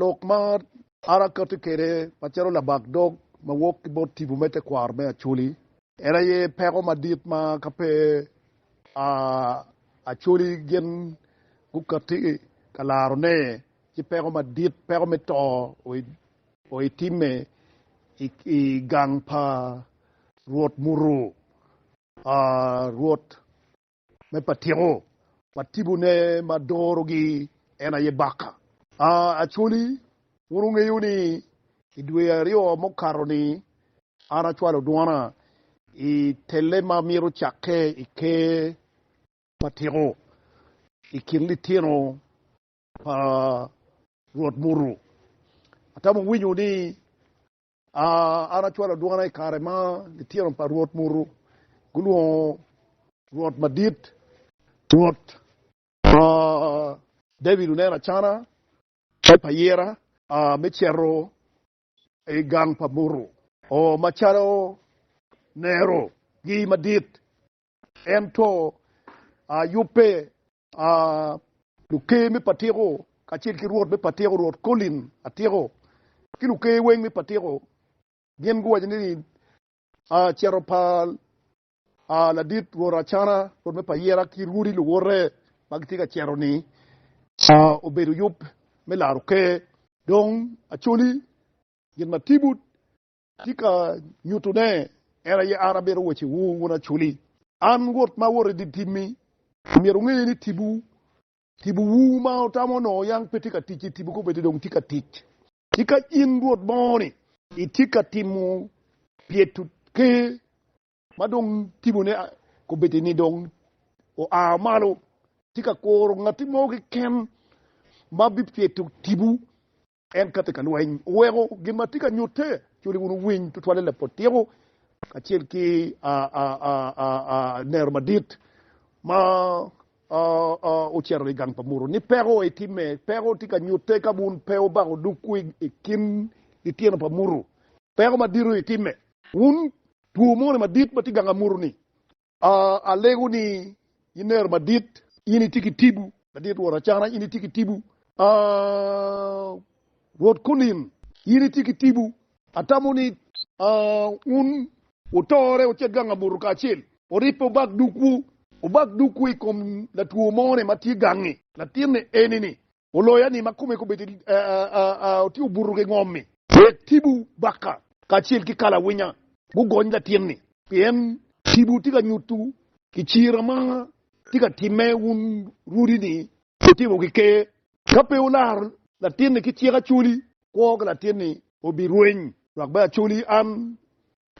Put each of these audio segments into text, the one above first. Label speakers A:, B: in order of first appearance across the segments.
A: Lok ma arakati kwede macalo labak dog ma wok ki bot tipo me tekwaro me Acholi. En aye peko madit ma ka pe Acholi gin gukati ka laro ne ci peko madit, peko me to o i timme i gang pa Rwot muto Rwot. Me patiko, watibone ma dorogi en aye baka. A Acholi, wun wungeyo ni i dwe aryo mukato-ni an acwalo dwona i telle ma myero cakke i Ker pa Tiko i kin litino pa Rwot muto. Atamo winyo ni A An acwalo dwona i kare ma litino pa Rwot muto gulwongo Rwot Madit, Rwot pa David oneno acana me payira me cito i gang pa muto, oo, macalo nerogi madit, ento yubbe a. Luker me patiko kacel ki rwot me patiko, Rwot Colin Atiko, ki luker weng me patiko gin guwaco ni a cito pa a ladit Rwot Acana, Rwot me Payera ki rwodi luwote ma gitye ka cito ni a obedo yub me laro ker. Dong Acholi, gin ma Tibut Atye ka nyutune en aye an abedo wacciwu wun aculi. An Rwot ma awoto idye timmi. Myero wunge ni tipo tipowu ma wutamo onongo yang pe tye ka tic-ci, tipo kobeddi dong tye ka tic. Tika in Rwot moni itye ka timo pyeto ker ma dong tipone kobeddi-ni dong oa malo? Tika koro ngatti mo keken ma bipyeto tipo En ka tye ka lweny oweko gin ma tye ka nyutte culi wun wuwiny tutwalle lapot tyeko kacel ki nero madit ma ocito i gang pa muto ni peko aye timme. Peko tye ka nyutte ka wun pe wubako dukwu i kin litino pa muto peko madito aye timme. Wun two moni madit ma tye i gang pa muto ni Alego ni iner madit. In itye ki tibu. Madit Rwot Acana, in itye ki tibu. Rwot Kunin, in itye ki tibu. Atamo ni wun wutore wucit gang abuto kacel. Wuribbe wubak dukwu. Wubak dukwu i kom latwo mo-ni ma tye gangi. Latin-ni eni-ni. Oloya ni ma kome kobedo ti obuto ki ngom-mi. Wek tipo baka kacel ki kalawinya gugony latin-ni. Pien tipo ti ka nyutu ki cira ma ti ka timme wun rudi-ni wutimo ki ker. Ka pe wularo latin-ni ki cik acoli, kwo ki latin-ni obi rweny, dok bene acoli an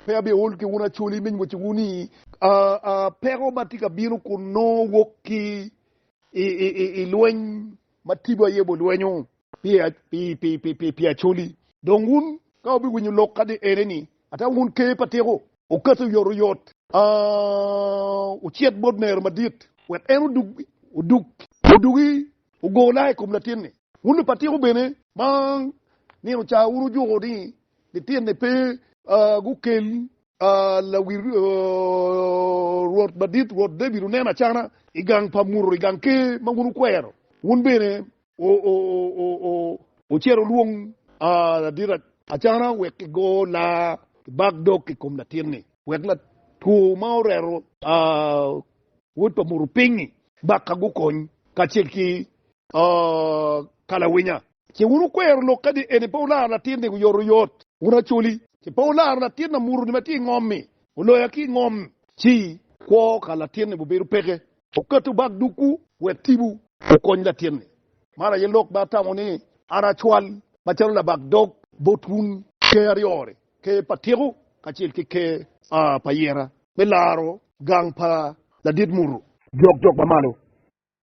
A: Pe abyol ki wun acoli me nywoco wu ni. Peko ma tye ka bino kun nongo wok ki i lweny ma tipo aye bo lwenyo pi acoli. Dong wun ka wubiwinyo lok kadi ene ni, ata wun ker pa tiko. Okati oyotoyot, ocit bot nero madit, wek en odug, odugi ogo laa i kom latinni. Wun lupatiko bene ma nino ca wun wujuko ni Litine pe gukel lawil Rwot Madit, Rwot David oneno acana i gang pa muto, i gang ker ma wun wukwero, wun bene wucito wulwong ladit acana wek igo laa ki bak dog i kom latin-ni, wek latwo ma oreto wod pa muto piny-nyi baka gukony kacel ki kalawinya. Ce wun wukwero lok kadi eni pe wularo latin ni guyoto yot. Wun Acholi, ce pe wularo latin amuto ni ma tye i ngom ni oloya ki i ngom. Ci kwo ka latin ni wubedo peke. Oketo bag dukwu wek tibu. Wukony latin ni. Man aye lok ma atamo ni an acwal macalo labag dog bot wun. Ker aryo ni, Ker pa Tiko kacel ki Ker pa Ayeta me laro gang pa ladit muto. Jok jok ma malo